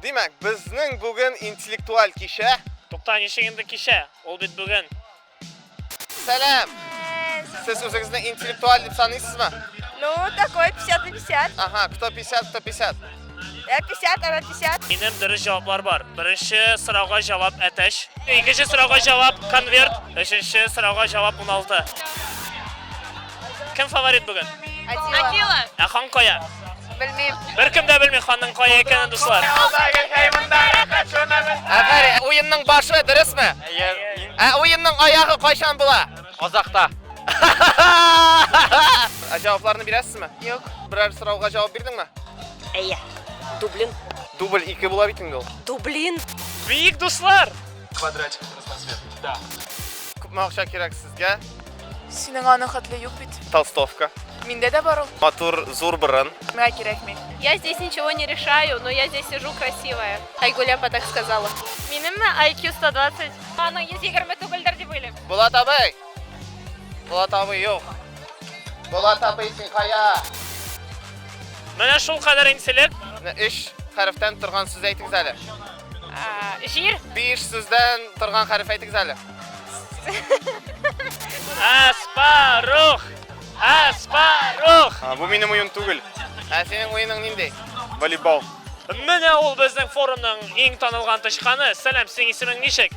Димәк, безнең бүген интеллектуаль кичә. Тукта, ничек инде кичә? Ул бит бүген. Сәлам! Сез үзегезне интеллектуаль дип саныйсызмы? Ну, такой 50 на 50. Ага, кто 50, кто 50. 50 әмә 50. Минем дөрес җаваплар бар. Беренче сорауга җавап әтәч. Икенче сорауга җавап конверт. Өченче сорауга җавап 16. Кем фаворит бүген? Атила. Ә хан кая? Белмим. Беркем дә белми ханның кая икәнен, дуслар. Әгәр уенның башы дөресме? Ә уенның аягы кайчан була? Казакта. Ә җавапларны бирәсезме? Юк. Берәр сорауга җавап бирдеңме? Әйе. Дублин. Дубль 2 була бит инде ул. Дублин. Бик дуслар. Квадратик трансфер. Да. Күпме акча кирәк сезгә? Синең аның хәтле юк бит. Толстовка. Миндә дә бар ул. Матур зур борын. Миңа кирәкми. Я здесь ничего не решаю, но я здесь сижу красивая. Айгулепа так сказала. Минемме IQ 120? Аның 120 түгелдер дип уйлыйм. Булат абый! Булат абый юк. Булат абый син кая? Менә шул кадәр интелек. Өч хәрефтән торган сүз әйтегез әле. Җир. Биш сүздән торган хәреф әйтегез әле. Аспарух! Аспарух! Бу минем уен түгел. Ә синең уеның нинди? Волейбол. Менә ул безнең форумның иң танылган тычканы. Сәлам, синең исемең ничек?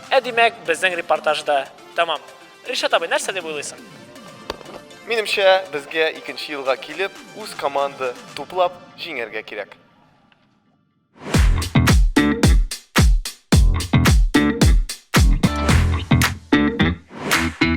Ә димәк, безнең репортаж да тәмам. Ришат абый, нәрсә дип уйлыйсың? Минемчә, безгә икенче елга килеп, үз команда туплап җиңәргә кирәк.